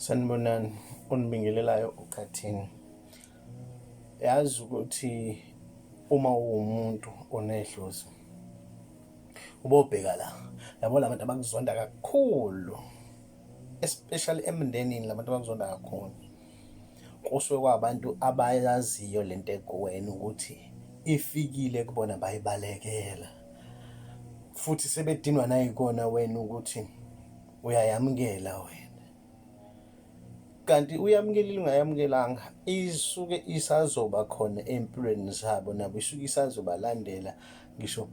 Sanibonani, onibingelelayo uqathini. Yazi ukuthi uma uwumuntu onedlozi ubobheka la yabo la bantu abakuzonda kakhulu especially emndenini la bantu abakuzonda kakhulu kusuke kwabantu abayaziyo le nto ekuwena ukuthi ifikile kubona bayibalekela futhi sebedinwa nayikona wena ukuthi uyayamukela wena kanti uyamukelile ungayamukelanga isuke isazoba khona empilweni zabo nabo isuke isazobalandela ngisho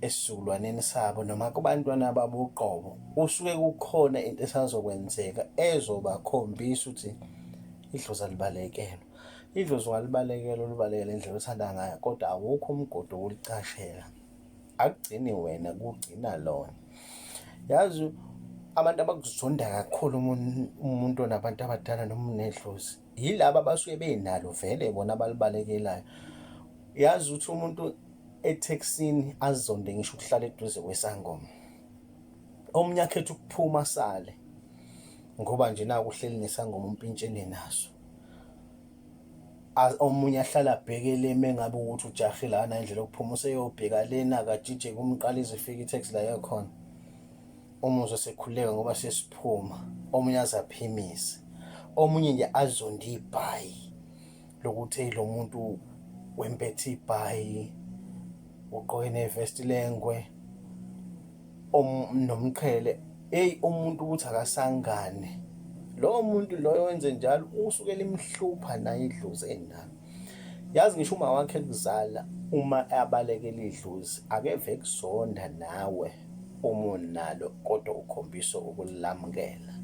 esizukulwaneni sabo noma kubantwana babo uqobo usuke kukhona into esazokwenzeka ezobakhombisa ukuthi idlozi alibalekelwa idlozi ungalibalekelwa ulibalekele indlela othanda ngayo kodwa awukho umgodo wokulicashela akugcini wena kugcina lona yazi abantu abakuzonda kakhulu umuntu onabantu abadala noma unedlozi yilaba abasuke benalo vele bona abalibalekelayo yazi ukuthi umuntu ethekisini azonde ngisho ukuhlala eduze kwesangoma omunye akhetha ukuphuma sale ngoba nje nakuhleli nesangoma umpintshene naso omunye ahlala abheke le mengabe ukuthi ujahe lana indlela okuphuma useyobheka lena akajije kumqala izifika i-tax la yakhona umuzwe sekhuleka ngoba sesiphuma omunye azaphimise omunye nje azonde ibhayi lokuthi lo muntu wempethe ibhayi ugqoke nevesti lengwe nomqhele eyi umuntu ukuthi akasangane lowo muntu loyo wenze njalo usuke limhlupha naye idlozi enalo yazi ngisho uma wakhe kuzala uma abalekela idlozi akeve kuzonda nawe umuni nalo kodwa ukhombisa ukulamukela.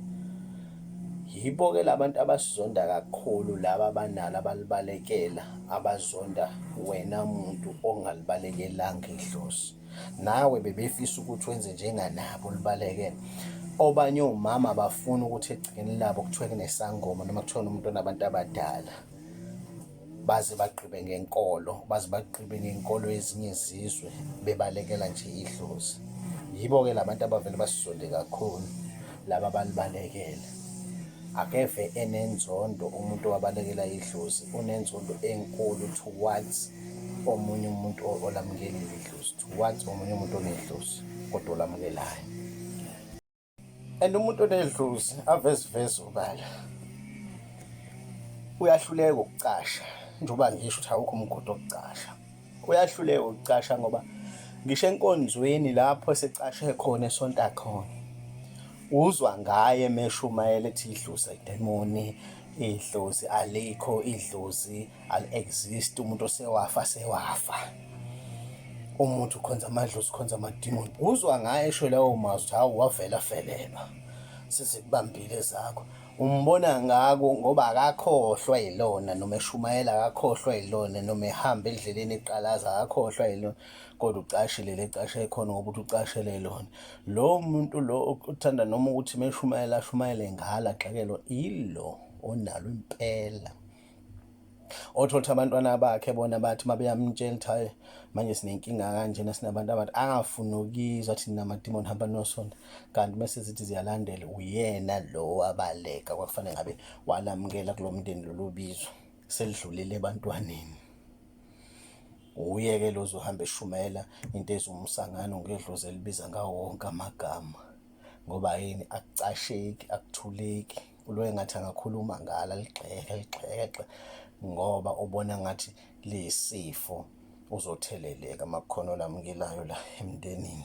Yibo-ke labantu abasizonda kakhulu laba abanalo abalibalekela abazonda wena muntu ongalibalekelanga idlozi. Nawe bebefisa ukuthi wenze njenganabo ulibalekele. Obanye omama bafuna ukuthi egcekeni labo kuthiwe kunesangoma noma kuthiwa nomuntu onabantu abadala. baze bagqibe ngenkolo baze bagqibe ngenkolo yezinye izizwe bebalekela nje idlozi yibo-ke la bantu abavele basizonde kakhulu laba balibalekele akeve enenzondo umuntu owabalekela idlozi unenzondo enkulu towards omunye umuntu olamukelile idlozi towards omunye umuntu onedlozi kodwa olamukelayo and umuntu onedlozi aveziveze ubala uyahluleka ukucasha njengoba ngisho ukuthi awukho umgodi wokucasha uyahluleka ukucasha ngoba ngisho enkonzweni lapho esecashe khona esonta khona uzwa ngaye meshumayela ethi idlozi idemoni idlozi alikho idlozi ali exist umuntu osewafa sewafa umuntu ukhonza amadlozi ukhonza amadimoni uzwa ngaye esho lawo mazwi ukuthi hawu wavela felelwa sizikubambile zakho umbona ngako ngoba akakhohlwa yilona noma eshumayela akakhohlwa yilona noma ehamba endleleni eqalaza akakhohlwa yilona kodwa ucashile le cashe ekhona ngoba ukuthi ucashele lona lo muntu lo uthanda noma ukuthi meshumayela ashumayele ngala xakelo ilo onalo impela othola ukuthi abantwana bakhe bona bathi uma beyamtshela ukuthi hayi manje sinenkinga kanjena sinabantu abathi angafuni ukizwa athi nina madimoni hamba nosonto kanti bese zithi ziyalandela uyena lo wabaleka kwakufanele ngabe walamukela kulo mndeni lolu bizo selidlulile ebantwaneni uye-ke lo zohamba eshumayela into ezumsangano ngedlozi elibiza ngawo wonke amagama ngoba yini akucasheki akuthuleki Uloye ngathi angakhuluma ngala ligxeke ligxeke ngoba ubona ngathi liyisifo uzotheleleka makukhona olamukelayo la emndenini.